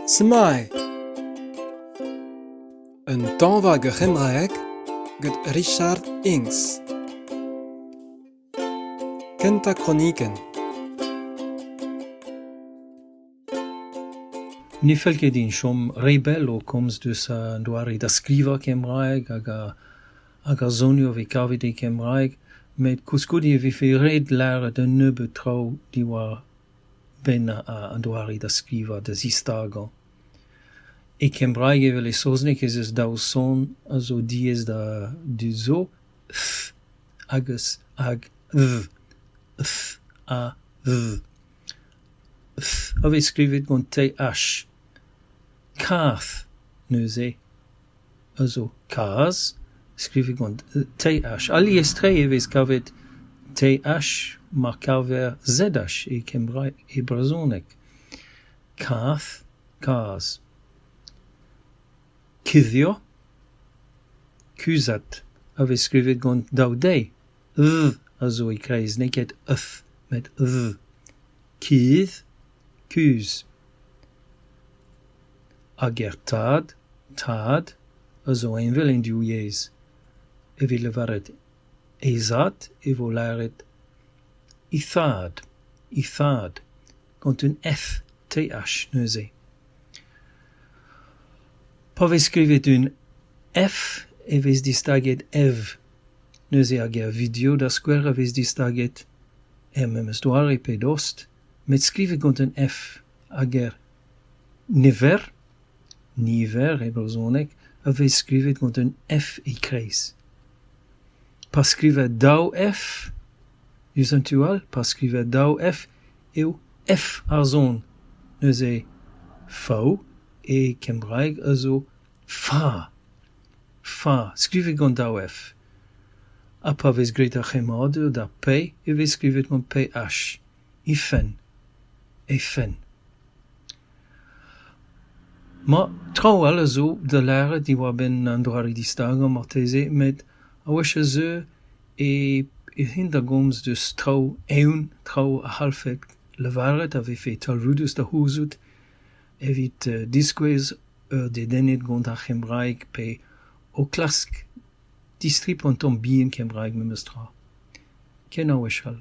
Smile Un tañva ur c'hembraeg gant Richard Inks Kentañ kronikenn Ne fell ket din chom re bell o komz deus an doare da skrivañ kembraeg hag hag ar soniour vez kavet e kembraeg met koulskoude e vefe ret lâret un nebeud traoù diwar-benn an doare da skrivañ, da zistagañ. E kembraeg evel e saozneg ez eus daou son a zo diaes da dud zo f hag hag v, f ha v. f a vez skrivet gant th. kaf neuze. a zo kazh, skrivet gant TH. Alies-tre e vez kavet TH ma kaver ZH e kembraeg e brezhoneg. Kazh, kazh. Kuddio, kuzhat, a vez skrivet gant daou d, v a zo e-kreiz, n'eo ket th met v. Kuzh, kuzh. Hag er tad, tad, a zo heñvel en div yezh. Evit lavaret he zad e vo lâret he thad, he thad, gant un F TH neuze. Pa vez skrivet un F e vez distaget Ev. Neuze ar ger video da skouer a vez distaget, er memes doare pe dost, met skrivet gant un F, ar ger Niver, niver e brezhoneg, a vez skrivet gant un F e-kreiz. Pa skriver daou F diouzh an tu all, pa skriver daou F eo F ar son. Neuze fa e kembraeg a zo fa, fa, skrivet gant daou F. Ha pa vez graet ar c'hemmadur d'ar P e vez skrivet gant PH. he fenn, he fenn. Ma, traoù all a zo da lâret diwar-benn an doare distagañ marteze met a-wech a zeu e rin da gomz deus traoù eeun, traoù a c'hallfed lavaret a vefe talvoudus da c'houzout evit diskouez ur dedenned gant ar c'hembraeg pe o klask distripañ un tamm bihan kembraeg memes tra ken a-wech all.